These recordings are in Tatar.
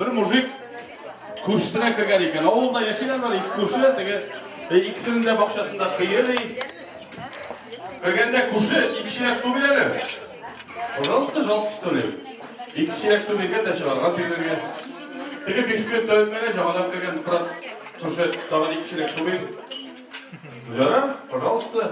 Бер мужик күршесенә кергән икән. Авылда яшиләр бар, ике күрше, теге э, икесенең дә бакчасында кыйы ди. Кергәндә күрше ике чиләк су бирәләр. Пожалуйста, жалко что ли? Ике чиләк су биргән дә чыгарган бирергә. Теге биш минут тәүләгән җагадан кергән брат күрше тагын ике чиләк су бир. Җара, пожалуйста.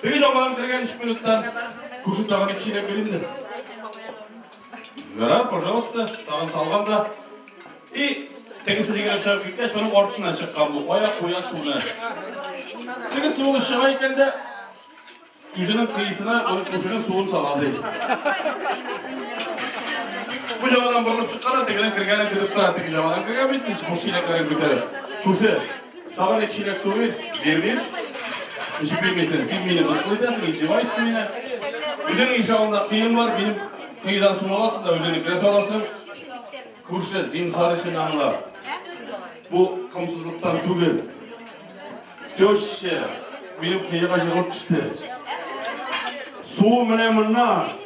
Теге җауларын кергән өч минуттан күрше тагын ике чиләк бирелде. Ярар, пожалуйста, тагын салган да. И тегесе җигелеп чыгып киткәч, моның артыннан чыккан бу аяк куя суны. Теге суны чыга икән дә үзенең кыйсына аның күршенең суын сала ди. Бу җавадан борылып чыккан, тегенең кергәнен көтеп тора, теге җавадан кергән бит, бу чиләкләрен күтәреп. Күрше Тагын бер чиләк су бир, бирмим. Эчеп бирмисен, син мине мыскыл итәсең, издеваешься меня. Үзең иш алдында кыйын бар, минем кыйдан су аласың да үзеңне керә саласың. Күрше, зинхар өчен аңла. Бу комсызлыктан түгел. Теща, минем кыйга җыгылып төште. Су менә моннан.